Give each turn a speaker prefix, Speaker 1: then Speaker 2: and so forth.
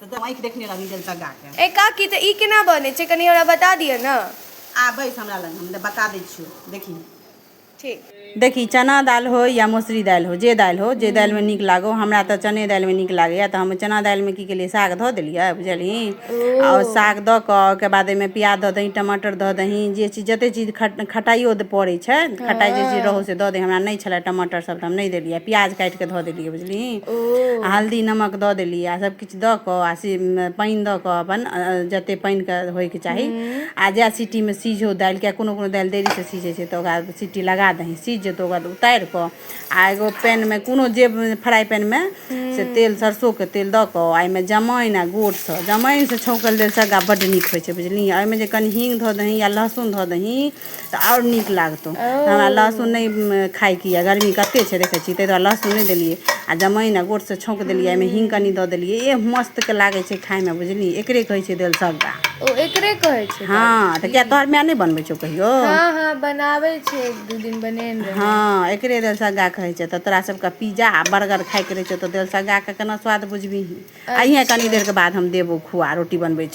Speaker 1: तऽ तू आँखि देखने रहबी जल तगाके ए काकी तऽ
Speaker 2: ई केना बनै छै कनि हमरा बता दिअ ने आ बैस हमरा
Speaker 1: लग हम बता दै छियौ देखी ठीक
Speaker 2: देखी चना
Speaker 1: दालि हो या मसुरी दालि हो जे दालि हो जे दालिमे नीक लागो हमरा तऽ चने दालिमे नीक लागैए तऽ हम चना दालिमे की केलियै साग धऽ देलियै बुझलियै आओर साग दऽ कऽ ओहिके बाद ओहिमे प्याज दऽ दही टमाटर दऽ दही जे चीज जते चीज खट- खटाइयो दऽ पड़ै छै खटाइ जे चीज रहौ से दऽ दही हमरा नहि छलै टमाटर सब तऽ हम नहि देलियै प्याज काटि कऽ धऽ देलियै देलि ओ आ हल्दी नमक दऽ देली आ सभ किछ दऽ कऽ आ से पानि दऽ कऽ अपन जतेक पानि के होय के चाही हूँ आ जै सिटी मे सीझो दालि किया कोनो कोनो दालि देरी सँ सीझै छै तऽ ओकरा सीटी लगा दही सीझ जेतौ ओकर बाद उतारि कऽ आ एगो पैन मे कोनो जे फ्राइ पैन मे से हूँ तेल सरसो के तेल दऽ कऽ आ एहिमे जमाइन आ गोट सँ जमाइन सँ छौंकल दालि सादा बड्ड नीक होइ छै बुझलियै एहिमे जे कनि हींग धऽ दही या लहसुन धऽ दही तऽ आओर नीक लागतौ हमरा लहसुन ओ नहि खायके यऽ गर्मी कते छै देखै छी ताहि दुआरे लहसुन नहि देलियै आ जमाइन आ गोटसँ छौंक देलियै एहिमे हींग कनि दऽ देलियै एह मस्त के लागै छै खायमे बुझलियै एकरे कहै छै देल सबटा ओ एकरे कहै
Speaker 2: छै हँ दालि तऽ किया तोहर माय
Speaker 1: नहि बनबै छौ कहियो हँ हँ बनाबै
Speaker 2: छै एक दू दिन बनेने रहै हँ एकरे दालि
Speaker 1: सगा कहै छै तऽ तोरा सबके पिज्जा आ बर्गर खायके रहै छौ तऽ दालि सगा के केना स्वाद बुझबिही अइहे कनी अच्छा देर के बाद हम देबो खुआ रोटी बनबै छी